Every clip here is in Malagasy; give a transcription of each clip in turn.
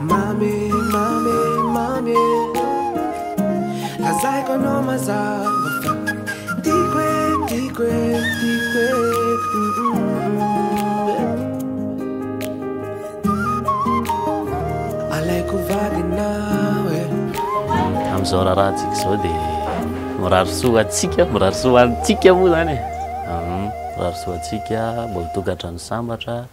Mamy e, mamy e, mamy e Lazaiko anao mazava fa Tiako e, tiako e, tiako e Alaiko vadinao e Amin'izao raharahantsika izao dia mirary soa antsika, mirary soa antsika moa izany e Mirary soa antsika, mbola tokantrano sambatra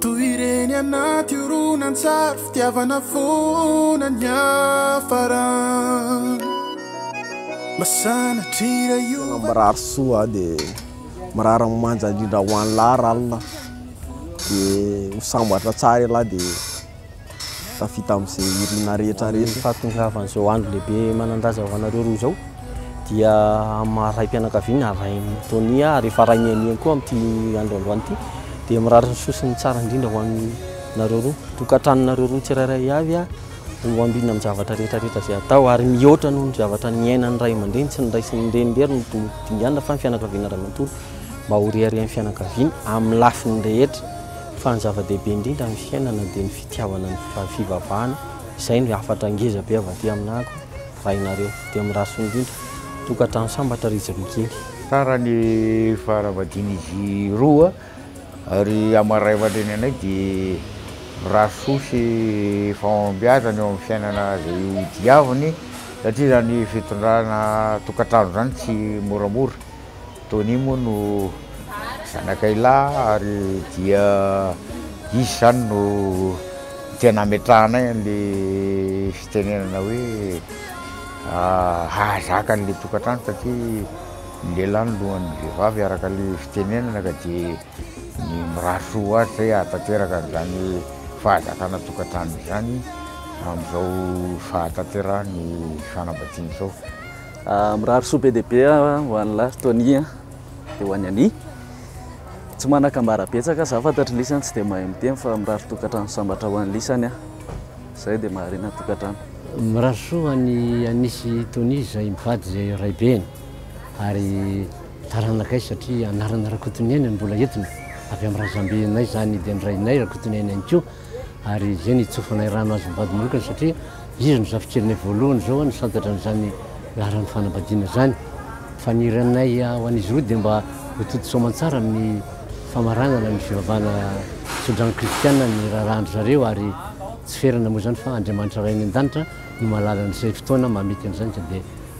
Toy ireny anaty horonantsary fitiavana foana niafarany Mba sanatria io Tena mirary soa aho dia mirary ny manja indrindra ho an'lah r'allah dia ho sambatra tsara ialahy dia tafita amin'izay irina rehetra rehetra. Ny fahatongavan'izao andro lehibe manan-daza ho anareo roa izao dia amin'ny raim-pianakaviana arahin'i Tonia ary efa arahin'i Aniany koa amin'ity andro androany ity dia mirary ny soa sy ny tsara indrindra ho anareo roa. Tokantranonareo roa tsirairay avy ho ambina amin'ny zavatra rehetra rehetra izay atao ary mihoatra noho ny zavatra niainan'ny ray aman-dreny tsy ny ray sy ny reny irery no dingana fa ny fianakaviana iray manontolo mba ho reharehan'ny fianakaviana amin'ny lafiny rehetra. Fa ny zava-dehibe indrindra amin'ny fiainana dia ny fitiavana ny fivavahana, izay no hafatra ngeza be avy aty aminako raha ianareo. Dia miraso indrindra. Tokantrano sambatra ry Jly kely. Tsara ny faharavadian'izy roa ary hamaraivatra ny anay dia miraso soa sy fahombiazana eo amin'ny fiainana izay ho diaviny satria izany fitondrana tokantrano izany tsy moramora. Tony moa no zanakay lahy ary dia izy izany no tena ametrahanay an'ilay fitenenana hoe hahazaka an'ilay tokantrano satria ny lehilahy no lohan'ny vehivavy araka ilay fitenenana ka dia ny mirary soa ho azy izay hahatanteraka an'izany fahazakana tokantrano izany amin'izao fahatanterahany fanambadiana izao. Mirary soa be dia be ho an'i lahy Tony dia ho an'i Annie. Tsy manan-kambara betsaka za fantatry lisany tsy dia mahay miteny fa mirary tokantrano sambatra ho an'i lisany aho. Zay dia maharena ny tokantrano. Mirary soa ho an'i Annie sy Tony izay mivady izay raibeny ary taranakay satria anarana Rakotoniaina no mbola entiny. Avy amin'ny razambenay izany dia ny rainay Rakotoniaina ihany koa. ary izay nitsofanay rano azy mivady manokana satria izy no zafikeliny voalohany zao ny santatra an'izany laharan'ny fanambadiana izany. Fa ny iranay ho an'izy roa dia mba ho toto soamantsara amin'ny famaranana ny fivavahana tsodrano kristiana ny raharahan-dry zareo ary tsy ferana moa izany fa Andriamanitra Ray any an-danitra no mahalala ny izay fotoana mahamety an'izany ka dia